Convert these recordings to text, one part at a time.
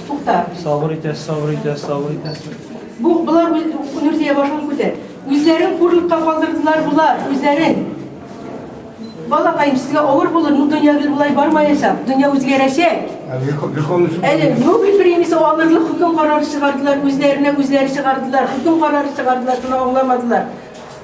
Тукта. Сабыр итәс, сабыр итәс, сабыр итәс. Бу булар Нурзия башын күтәр. Үзләрен хурлыкка калдырдылар булар, үзләрен. Балакаем, сезгә авыр булыр, ну дөнья гел болай бармаячак, дөнья үзгәрәчәк. Әле Нобель премиясе алырлык хөкем карары чыгардылар, үзләренә үзләре чыгардылар, хөкем карары чыгардылар, шуны аңламадылар.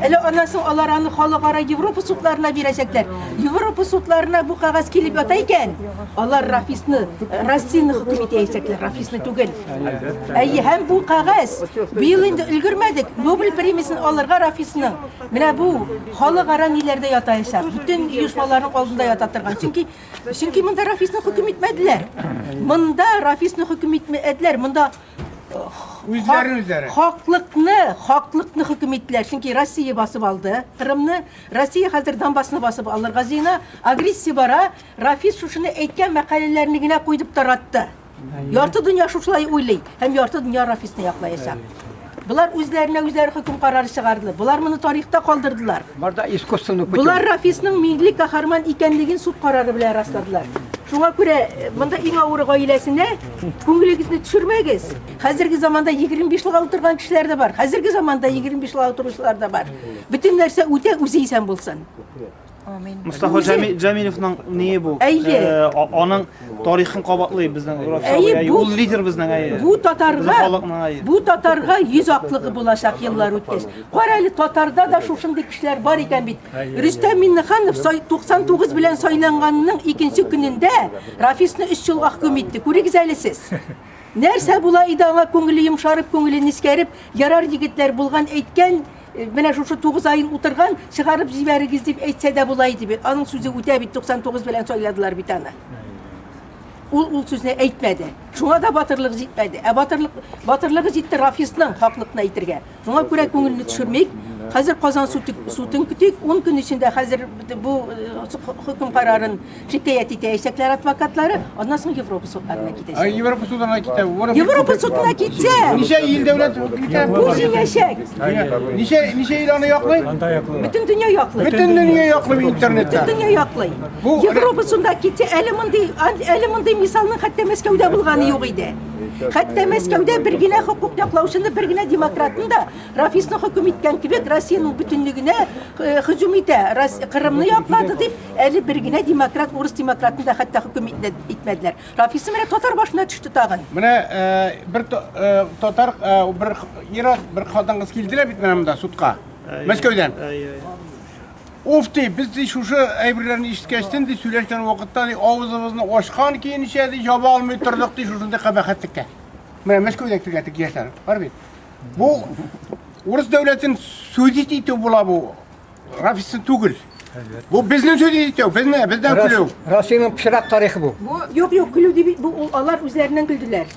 Әле аннан соң алар аны халыкара Европа судларына бирәчәкләр. Европа судларына бу кагаз килеп ята икән, алар Рафисны, Россияне хөкем итәчәкләр, Рафисны түгел. Әйе, һәм бу кагаз быел инде өлгермәдек, Нобель премиясен алырга Рафисның. Менә бу халыкара ниләрдә ятаячак, бөтен оешмаларның алдында ята торган. Чөнки чөнки монда Рафисны хөкем итмәделәр. Монда Рафисны хөкем итмәделәр. Монда Үзләрен үзләре. Хаклыкны, хаклыкны хөкем иттеләр. Чөнки Россия басып алды Кырымны. Россия хәзер Донбассны басып алырга җыена. Агрессия бара. Рафис шушыны әйткән мәкаләләрне генә куйдып таратты. Ярты дөнья шушылай уйлый һәм ярты дөнья Рафисны яклаячак. Болар үзләренә үзләре хөкем карары чыгарды. Болар моны тарихта калдырдылар. Барда искусственный путем. Болар Рафисның милли каһарман икәнлеген суд карары белән расладылар. Шуңа күрә э, монда иң авыры гаиләсенә Күңелегезне төшермәгез. Хәзерге заманда 25 елга утырган кешеләр дә бар. Хәзерге заманда 25 елга утыручылар да бар. Бөтен нәрсә үтә, үзе исән булсын. Амин. Мустафа Үзе- Җамилевның ние бу? Әйе. Э, а- Аның тарихын кабатлый безнең Әйе, Русия. бу- Ул лидер безнең әйе. Бу Безнең татарга, халыкның әйе. бу татарга йөз аклыгы булачак еллар үткәч. Кара әле татарда да шушындый кешеләр бар икән бит. Рөстәм Миннеханов сай- 99 белән сайланганның икенче көнендә Рафисны өч елга хөкем итте. Күрегез әле сез. Нәрсә була иде аңа күңеле йомшарып, күңеле нескәреп, ярар егетләр булган әйткән, Э, менә шушы тугыз айын утырган чыгарып җибәрегез дип әйтсә дә була иде бит аның сүзе үтә бит туксан тугыз белән сайладылар бит аны ул ул сүзне әйтмәде шуңа да батырлык җитмәде ә батырлык батырлыгы җитте рафисның хаклыкны әйтергә Шуңа күрә күңелне төшермик. Хәзер Казан судын көтик. Ун көн эчендә хәзер бу хөкем карарын шикаять итәячәкләр адвокатлары. Аннан соң Европа судларына китәчәк. Европа судына китә. Европа судына китсә. Ничә ил дәүләт китә? Бу җиңәчәк. Ничә ничә ил аны яклый? Бөтен дөнья яклый. Бөтен дөнья яклый интернетта. Бөтен дөнья яклый. Европа судына китсә, әле мондый әле мондый мисалның хәтта Мәскәүдә булганы юк иде. Хәтта Мәскәүдә бер генә хокук яклаучыны, бер генә демократны да Рафисны хөкем иткән кебек Россиянең бөтенлегенә э, хөҗүм итә. Кырымны яклады дип, әле бер генә демократ, урыс демократны да хәтта хөкем итмәделәр. Рафисы менә татар башына төште тагын. Менә э, бер э, татар бер ир бер хатын-кыз килделәр бит менә монда судка. Мәскәүдән. Уф, ди, без, ди, шушы әйберләрне ишеткәч, төн, ди, сөйләшкән вакытта, ди, авызыбызны ачкан көенчә, ди, җаба алмый тордык, ди, шушындый кабахәтлеккә. Менә Мәскәүдә килгән теге яшьләр бар бит. Бу урыс дәүләтен судить итү була бу. Рафисын түгел. Бу безнең судить итү, безне, бездән көлү. Россиянең пычрак тарихы бу. Бу, юк, юк, көлү дип, бу ул алар үзләреннән көлделәр.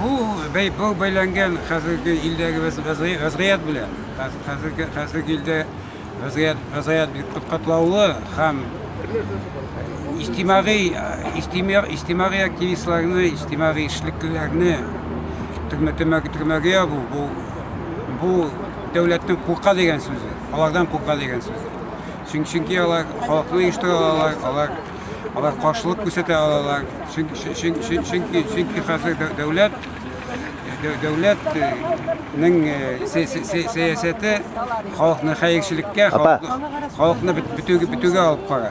Бу бәй бу бәйләнгән хәзерге илдәге вәз- вәзгый- вәзгыять белән. Хәз- Хәзерге хәзерге илдә вәзгыять вәзгыять бик кат- катлаулы һәм иҗтимагый иҗтимагый иҗтимагый активистларны, иҗтимагый эшлеклеләрне төрмә төрмә төрмәгә ябу бу бу дәүләтнең курка дигән сүзе, алардан курка дигән сүзе. Чөн- Чөнки алар халыкны оештыра алалар, алар алар каршылык күрсәтә алалар. Чөнки чөнки чөнки хәзер дәүләт дәүләтнең сәясәте халыкны хәерчелеккә, халыкны бетүгә алып бара.